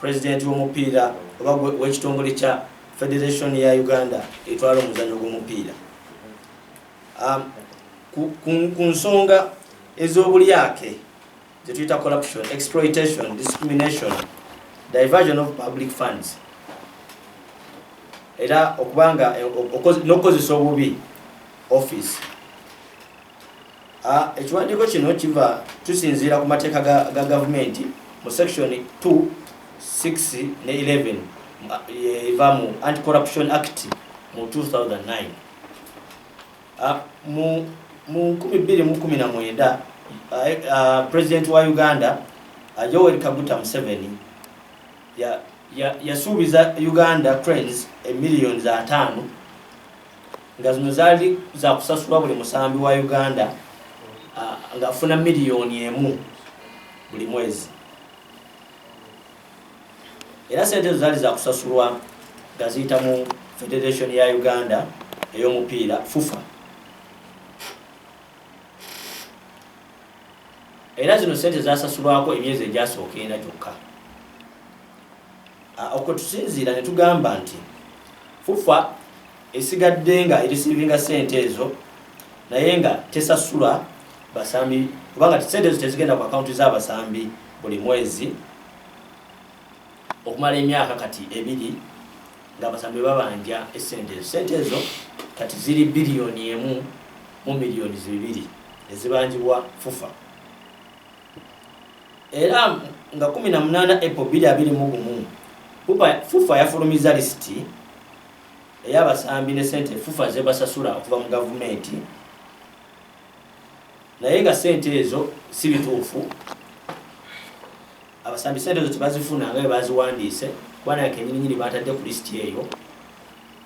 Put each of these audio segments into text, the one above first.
President w'omupiira oba w'ekitongole kya Federation ya Uganda etwala omuzanyo gw'omupiira um, ku nsonga ez'obulyake zetuyita corruption, exploitation, discrimination, diversion of public funds era okubanga eh, n'okukozesa obubi office Ekiwandiiko kino kiva tusinziira ku mateeka ga gavumenti mu section 2 6 ne 11 eva mu anti corruption act mu 2009 mu 2019 president wa uganda yoweri kaguta museveni yasuubiza uganda cranes emiliyoni za taano nga zino zaali zakusasulwa buli musambi wa uganda ngaafuna miliyoni emu buli mwezi era sente ezo zaali zakusasulwa nga ziyita mu federation ya uganda ey'omupiira fufa era zino sente zasasulwako emyezi egyasooka ena gyokka Okwe tusinziira ne tugamba nti FUFA esigadde nga erisiivinga ssente ezo naye nga tesasula basambi kubanga ssente ezo tezigenda ku akawunti z'abasambi buli mwezi okumala emyaka kati ebiri ng'abasambi babanja essente ezo ssente ezo kati ziri biliyoni emu mu miliyoni zibiri ezibanjibwa FUFA era nga 18 April 2021 FUFA yafulumizza lisiti ey'abasambi ne ssente FUFA zebasasula okuva mu gavumenti naye nga ssente ezo si bituufu abasambi ssente ezo tebazifuna nga bebaziwandiise kuba naye kenyininyini batadde ku lisiti eyo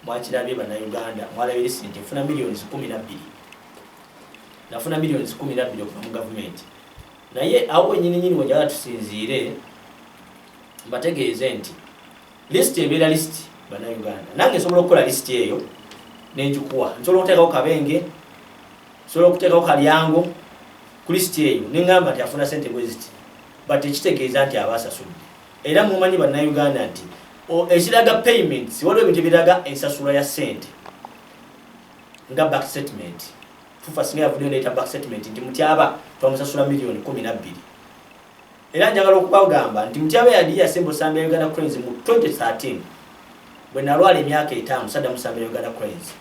mwakirabye bannayuganda mwalabye lisiti nti efuna miliyoni 12 nafuna millioni kumi nabbiri okuva mu gavumenti naye awo wenyininyini wejala tusinziire mbategeeze nti lisiti ebeera lisiti banauganda nange nsobola okukola lisiti eyo nenjikuwa nsobola okuteekako kabenge nsobola okuteekako kalyango ku lisiti eyo nengamba nti afuna sente bweziti but ekitegeeza nti aba asasudde era mumanyi banauganda nti ekiraga payments waliwo ebintu ebiraga ensasula ya sente nga back statement fufa singa yavudde ndeeta back statement nti mutyaba twamusasula miliyoni kumi nabbiri era njagala okubagamba nti mutyaba yali yasemba osambi ya uganda cranes mu 2013 bwe nalwala emyaka etaano sadda musambi ya uganda cranes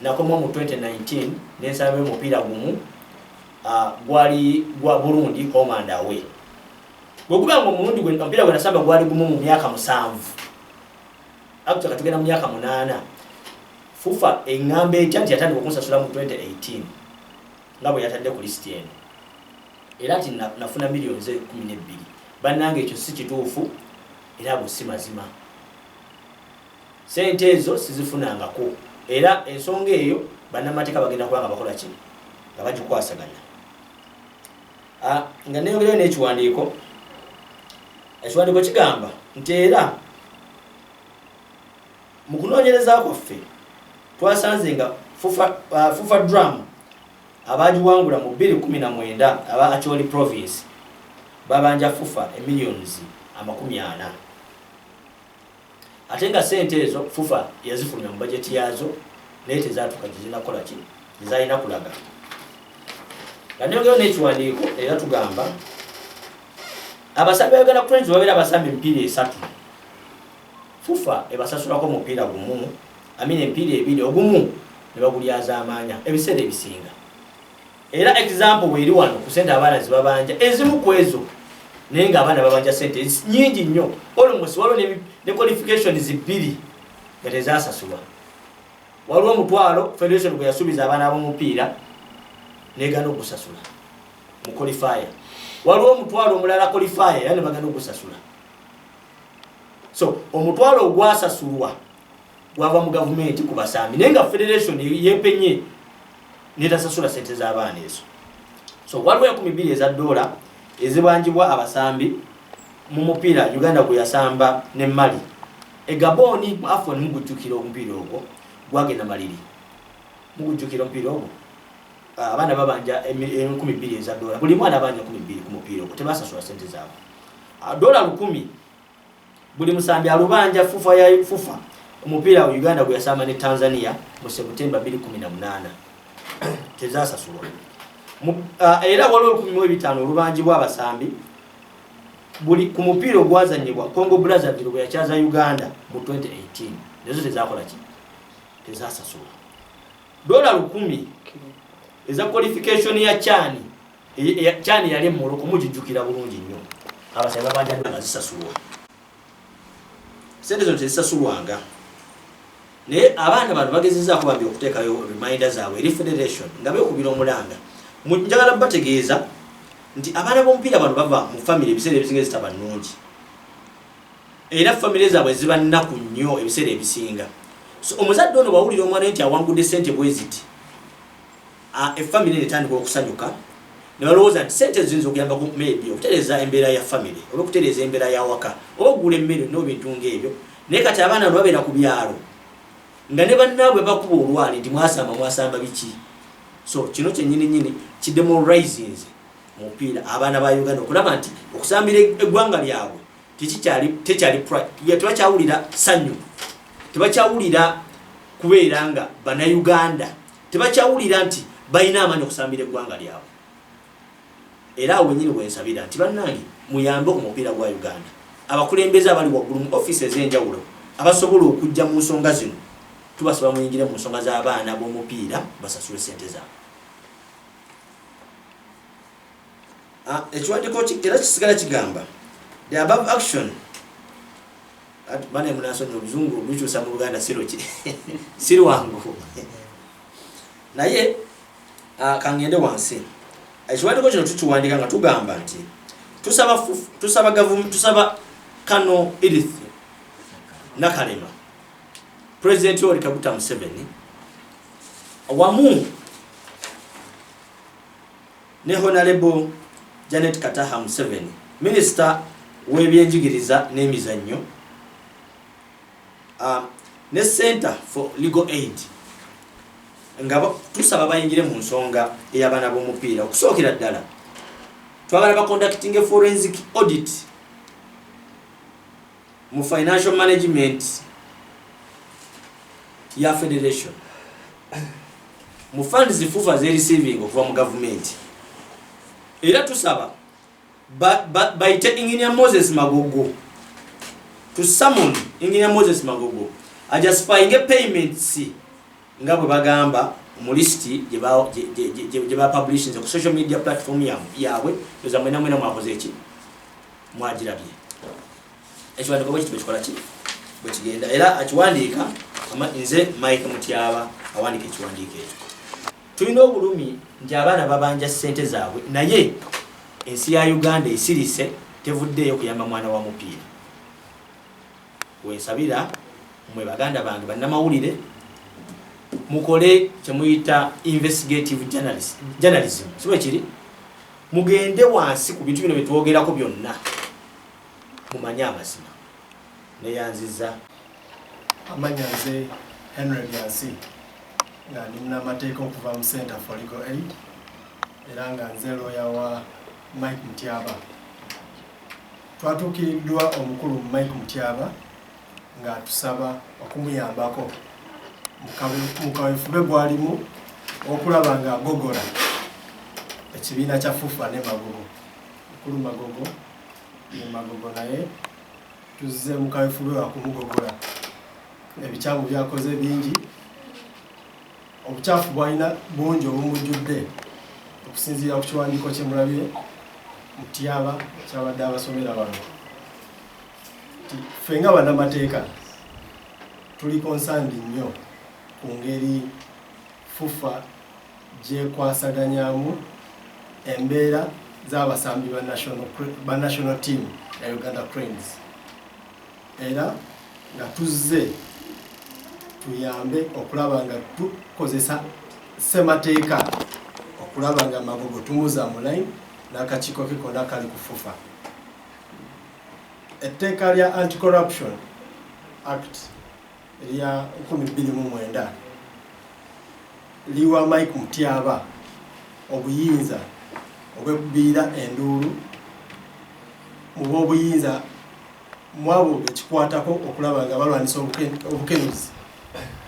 nakomawo mu 2019 nensamba omupiira gumu ah, gwali gwa burundi home and away bwekuba nga omulundi omupiira gwe nasamba gwali gumu mu myaka musanvu Actually katugenda mu myaka munaana. FUFA engamba etya nti yatandika okunsasula mu 2018 nga bwe yatadde ku lisiti eno era nti nafuna miliyoni ze kumi n'ebbiri. Bannange ekyo si kituufu era ago si mazima. Ssente ezo sizifunangako era ensonga eyo bannamateeka bagenda kuba nga bakola ki nga bagikwasaganya. Ah, nga neyongerayo n'ekiwandiiko ekiwandiiko kigamba nti era mu kunoonyereza kwaffe twasanze nga fufa uh, drum abaagiwangula mu 219 aba acholi province babanja fufa emillions amakumi ana ate nga sente ezo fufa yazifulumya mu bajeti yaazo naye tezatuka gyezinakola ki gyezalina kulaga nga neyongeyo n'ekiwandiiko era tugamba abasambi bagenda kutenzi babeera abasambi emipiira esatu fufa ebasasulako omupiira gumu amina emipiira ebiri ogumu ne bagulyazaamaanya ebiseera ebisinga era example weeri wano ku sente abaana zibabanja ezimu ku ezo naye nga abaana babanja sente nyingi nnyo olmost waliwo ne qualification zibbiri nga tezasasulwa waliwo omutwalo federation gwe yasuubiza abaana b'omupiira negana ogusasula mu qualifier waliwo omutwalo omulala qualifier era ne bagana ogusasula so omutwalo ogwasasulwa gwava mu gavumenti ku basambi naye nga federation yepenye netasasula sente z'abaana ezo so waliwo enkumi bbiri eza doola ezibanjibwa abasambi mu mupiira uganda gwe yasamba ne mali egabooni mu afon mugujjukira omupiira ogwo gwagenda maliri mugujjukira omupiira ogwo ah, abaana babanja enkumi bbiri eza doola buli mwana abanja kumi bbiri ku mupiira ogwo tebasasula sente zaabwe ah, doola lukumi buli musambi alubanja fufa ya fufa omupiira wa uganda gwe yasamba ne tanzania mu sebutemba 218 tezasasulwa uh, era waliwo olukumi mu ebitaano olubanjibwa abasambi buli ku mupiira ogwazanyibwa congo brazzaville bwe yakyaza uganda mu 2018 nezo tezakola ki tezasasulwa dola lukumi eza qualification ya chani kyani yali emoloko mujijukira bulungi nnyo abasayi babanja nga zisasulwa sente zino tezisasulwanga naye abaana bano bagezezaako bambi okuteekayo reminder zaabwe eri federation nga bekubira omulanga njagala bategeeza nti abaana b'omupiira bano bava mu famiry ebiseera ebisinga ezitaba nnungi era famiry zaabwe ziba nnaku nnyo ebiseera ebisinga so omuzadde ono bwawulira omwana nti awangudde sente bweziti A, Effamire eno etandika okusanyuka ne balowooza nti ssente ezo ziyinza okuyamba ku maybe okutereeza embeera ya famire oba okutereeza embeera y'awaka oba okugula emmere nno bintu ng'ebyo naye kati abaana bano babeera ku byalo nga ne bannaabwe bakuba olwali nti mwasamba mwasamba biki so kino kyennyini nnyini kidemorisinze mu mupiira abaana ba uganda okulaba nti okusambira eggwanga lyabwe tebakyawulira sannyu tebakyawulira kubeera nga banauganda tebakyawulira nti balina amaanyi okusambira eggwanga lyabwe era awo wenyini wensabira nti bannange muyambe omupiira gwa uganda abakulembeze abali waggulu mu ofiisi ez'enjawulo abasobola okujja mu nsonga zino tubasaba muyingire mu nsonga z'abaana b'omupiira basasule sente zaabwe ah, ekiwandiiko era kisigala kigamba the above action bana munasonyi oluzungu olukyusa mu luganda siruki sirwangu naye ah, kangende wansi ekiwandiko kino tukiwandika nga tugamba nti tusaba tusaba gavumu tusaba kano edith nakalema pulezidenti oli kaguta museveni wamu ne Honalebo Janet Kataha Museveni, minisita w'ebyenjigiriza n'emizannyo uh, ne Center for Legal Aid nga tusaba bayingire mu nsonga ey'abaana b'omupiira okusookera ddala twagala bakondakitinge forensic audit mu financial management ya federation mu fund zifufa zerisiving okuva mu gavumenti era tusaba bayite engineer moses magogo to summon engineer moses magogo ajustifyinge payments nga bwe bagamba mu lisiti gye bapublishinze ku social media platform yaabwe eza mwenamwena mwakoze eki mwagirabye ekiwandiiko bwekiti bwekikola ki bwekigenda era akiwandiika nze mike mutyaba awandiika ekiwandiiko ekyo tulina obulumi nti abaana babanja ssente zaabwe naye ensi ya uganda esirise tevuddeeyo kuyamba mwana wa mupiira wensabira mwe baganda bange bannamawulire mukole kyemuyita investigative journalism sibwekiri mugende wansi ku bintu bino bye twogerako byonna mumanye amazima neyanziza amanya nze henry byansi nga ndi munamateeka okuva mu center for legal aid era nga nze looya wa mike mutyaba twatuukiriddwa omukulu mike mutyaba ng'atusaba okumuyambako mu kaweefube gw'alimu okulaba ng'agogola ekibiina kya FUFA ne Magogo mukulu Magogo ne Magogo naye tuzze mu kaweefube wa kumugogola ebikyamu byakoze bingi obukyafu bwalina bungi obumujjudde okusinziira ku kiwandiiko kye mulabye mutyaba kyabadde abasomera bano ffe nga banamateeka tuli konsandi nnyo ku ngeri fufa gyekwasaganyamu embeera z'abasambi ba national team ya uganda cranes era nga tuzze tuyambe okulaba nga tukozesa ssemateeka okulaba nga magogo tumuza mu line n'akakiiko ke konna kali ku fufa Etteeka lya Anti Corruption Act erya nkumi bbiri mu mwenda liwa Mike Mutyaba obuyinza obwekubiira enduulu mu b'obuyinza mu abo bekikwatako okulaba nga balwanyisa obukenuzi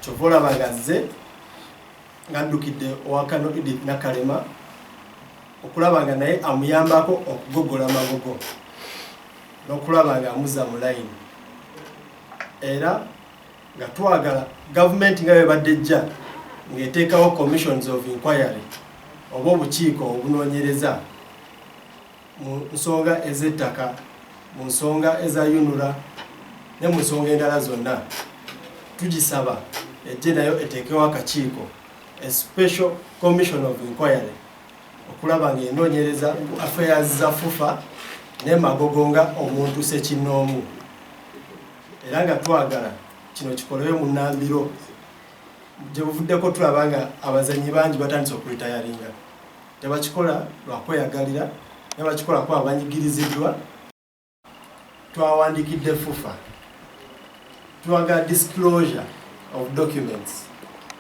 kyova olaba nga zze nga addukidde owa Kano Edith Nakalema okulaba nga naye amuyambako okugogola amagogo n'okulaba nga amuza mu layini era nga twagala gavumenti nga bebadde ejja ng'eteekawo commissions of inquiry oba obukiiko obunoonyereza mu nsonga ez'ettaka, mu nsonga eza UNRA ne mu nsonga endala zonna, tugisaba ejje nayo eteekewo akakiiko a special commission of inquiry okulaba ng'enoonyereza ku affairs za FUFA ne Magogo nga omuntu sekinnoomu era nga twagala kino kikolewe mu Nambiro gye buvuddeko tulaba nga abazannyi bangi batandise okulitayaringa Tebakikola lwa kweyagalira, naye bakikola kuba banyigiriziddwa. Twawandikidde FUFA twagala disclosure of documents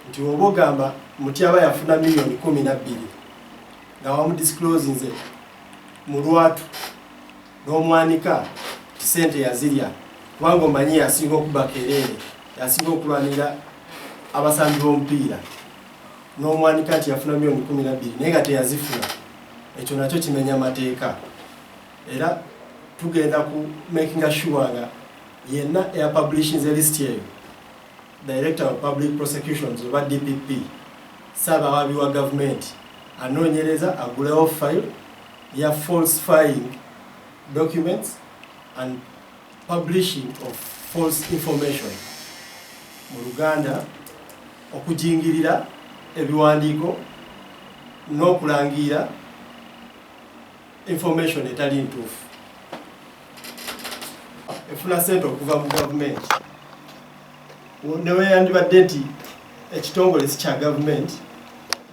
nti oba ogamba mutyaba yafuna million kumi nabbiri nga wamu disclosinze mu lwatu n'omwanika ti sente yazirya kubanga omanyi yasinga okubakereere yasinga okulwanira abasambi b'omupiira n'omwanika nti yafuna milioni kumi nabbiri naye nga teyazifuna ekyo nakyo kimenya amateeka era tugenda ku makinga sure nga yenna eyapublishinze list eyo director of public prosecutions oba dpp saaba awabi wa gavumenti anoonyereza agulewo file ya falsifying documents and publishing of false information mu luganda okujingirira ebiwandiiko n'okulangiira information etali ntuufu efuna sente okuva mu gavumenti neweyandibadde nti ekitongole si kya gavumenti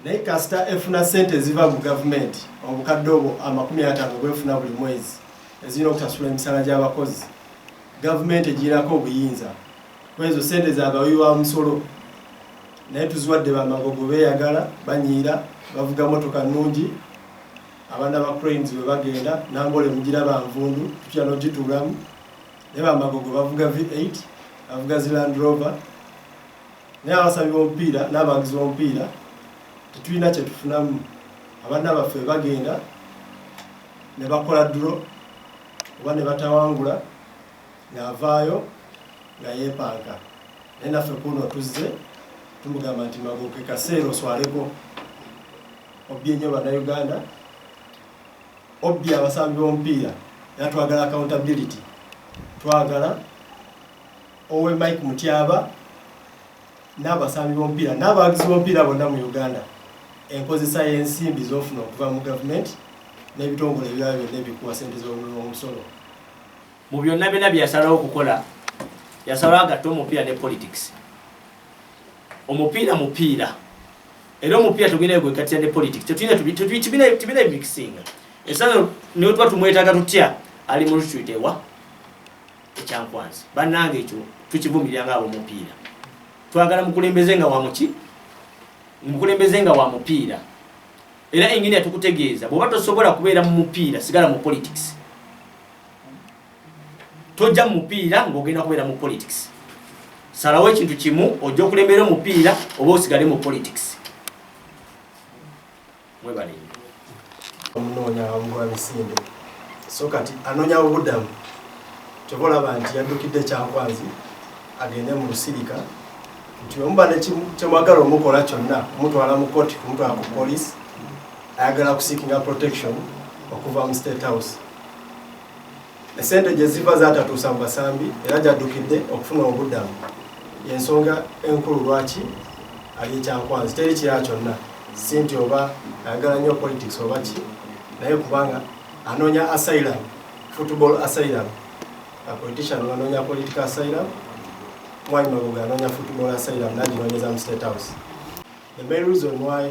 naye kasita efuna sente eziva mu gavumenti obukadde obwo amakumi atano bwefuna buli mwezi ezirina okusasula emisala gy'abakozi gavumenti egirinako obuyinza kwezo sente za bawi wa musolo naye tuziwadde bamagogo beyagala banyiira bavuga motoka nungi abaana ba cranes bwe bagenda nangole mugira banvundu tutya nogituulamu naye bamagogo bavuga v8 bavuga zi land rover naye abasabi bomupiira n'abawagizi bomupiira tetulina kyetufunamu abaana baffe bagenda ne bakola duro oba ne batawangula ng'avaayo nga yeepanka naye naffe kuuno tuzze tumugamba nti magoke kaseera oswaleko obbye nnyo bannayuganda obbye abasambi b'omupiira era twagala accountability twagala owe mike mutyaba n'abasambi b'omupiira n'abawagizi b'omupiira bonna mu uganda enkozesa y'ensimbi z'ofuna okuva mu gavumenti n'ebitongole ebirala byonna ebikuwa sente z'omusolo Mu byonna byonna bye yasalawo okukola, yasalawo agatte omupiira ne politics. Omupiira mupiira. Era omupiira tugenda yo gwegattira ne politics. Tetuyina tubina mixinga. Esano niwe tuba tumwetaga tutya ali mu retreat ewa ekyankwanzi. Bannange ekyo tukivumirira nga abomupiira. Twagala mukulembeze nga wa muki? Mukulembeze nga wa mupiira. Era engine yatukutegeeza bw'oba tosobola kubeera mu mupiira sigala mu politics. tojja mu mupiira ng'ogenda kubeera mu politics salawo ekintu kimu ojja okulembera omupiira oba osigale mu politics mwebale omunoonya wamugoba misinde so kati anoonya obudamu kyova olaba nti yaddukidde kyankwanzi agende mu lusirika nti omuba nekyemwagala omukola kyonna kumutwala mu koti kumutwala ku polisi ayagala kusikinga protection okuva mu state house esente gye ziva zatatuusa mu basambi era gyaddukidde okufuna obuddamu yensonga enkulu lwaki ali ekyankwanzi teri kirala kyonna si nti oba ayagala nnyo politics oba ki naye kubanga anoonya asylum football asylum politician anoonya political asylum mwali magoga anoonya football asylum naginoonyeza mu state house the main reason why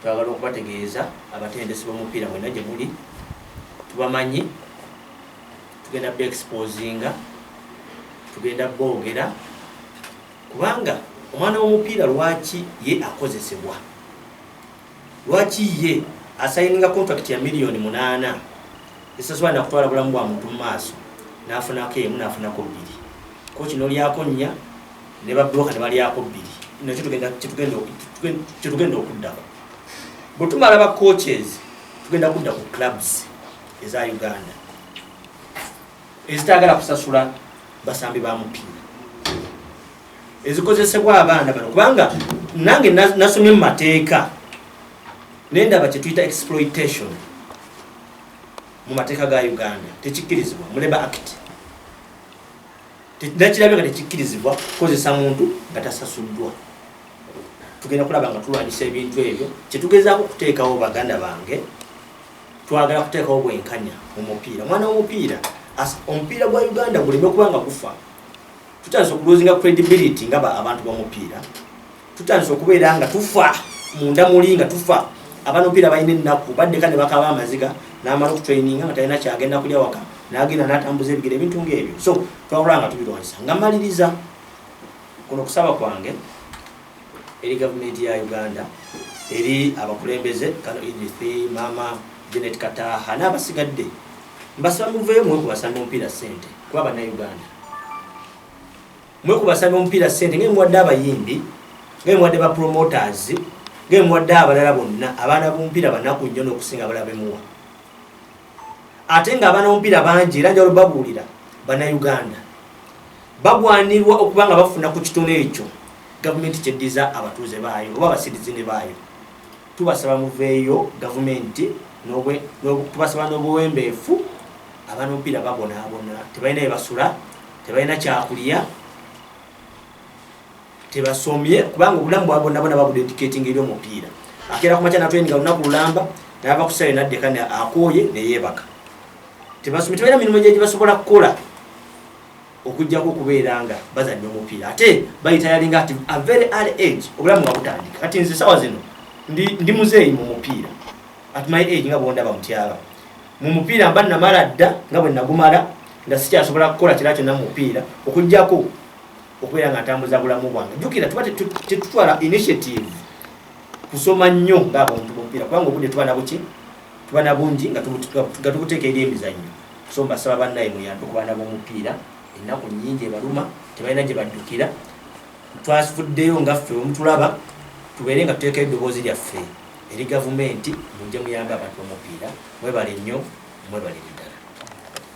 Twagala okubategeeza abatendesi b'omupiira mwenna gye muli tubamanyi, tugenda be exposinga, tugenda boogera kubanga omwana w'omupiira lwaki ye akozesebwa lwaki ye asayininga contract ya miliyoni munaana esasobola nakutwala bulamu bwa muntu mu maaso n'afunako emu n'afunako bbiri koki n'olyakonnya ne babbulooka ne balyako bbiri no kyetugenda okuddako bwe tumala ba coaches tugenda kudda ku clubs eza uganda ezitagala kusasula basambi ba mupiira ezikozesebwa abaana bano kubanga nange nasomye mu mateeka naye ndaba kyetuyita exploitation mu mateeka ga uganda tekikkirizibwa mu labor act Nakirabye nga tekikkirizibwa kukozesa muntu nga tasasuddwa. Tugenda kulaba nga tulwanyisa ebintu ebyo. Kye tugezaako okuteekawo baganda bange, twagala kuteekawo bwenkanya mu mupiira. Omwana w'omupiira, omupiira gwa Uganda guleme kuba nga gufa. Tutandise okulozinga credibility nga abantu b'omupiira. tutandise okubeera nga tufa munda muli nga tufa abanopiira balina ennaku baddeka ne bakaba amaziga n'amala okutraininga nga talina kyagenda kulya waka n'agenda n'atambuza ebigere ebintu ng'ebyo so twawula nga tubirwanyisa nga maliriza kuno okusaba kwange eri gavumenti ya uganda eri abakulembeze kano idrithi maama genet kataha n'abasigadde mbasaba muveeyo mwe kubasamba omupiira ssente kuba bannayuganda mwe kubasaba omupiira sente ngaye muwadde abayimbi ngaye muwadde ba promoters ngaye muwadde abalala bonna abaana bomupiira banaku nnyo n'okusinga abalala bemuwa ate nga abaana bomupiira bangi era njalo babuulira bannayuganda bagwanirwa okuba nga bafuna ku kitono ekyo gavumenti kyeddiza abatuuze baayo oba abasirizi ne baayo Tubasaba muveeyo gavumenti tubasaba n'obuwembeefu abaana omupiira babonaabona tebalina bebasula tebalina kyakulya tebasomye kubanga obulamu bwabonabona babudediketing eri omupiira akeera ku makya natweninga lunaku lulamba nava ku sayo naddeka akooye neyebaka tebasomye tebalina mirimu gyegibasobola kukola okujjako okubeera nga bazannya omupiira ate bayita yalinga ati a very early age obulamu nga butandika kati nze sawa zino ndi muzeeyi mu mupiira at my age nga bwondaba mutyaba mu mupiira mba namala dda nga bwe nagumala nga sikyasobola kukola kira kyonna mu mupiira okujjako okubeera nga ntambuza bulamu bwange jukira tuba tetutwala initiative kusoma nnyo ngaabuntu bumupiira kubanga obudde tuba nabuki tuba nabungi nga tubuteeka eri emizannyo So mbasaba bannaye muyambe ku baana b'omupiira ennaku nnyingi ebaluma tebalina gye baddukira twafuddeyo nga ffe omutulaba tubeere nga tuteekayo eddoboozi lyaffe eri gavumenti mujje muyambe abantu b'omupiira mwebale nnyo mwebale ddala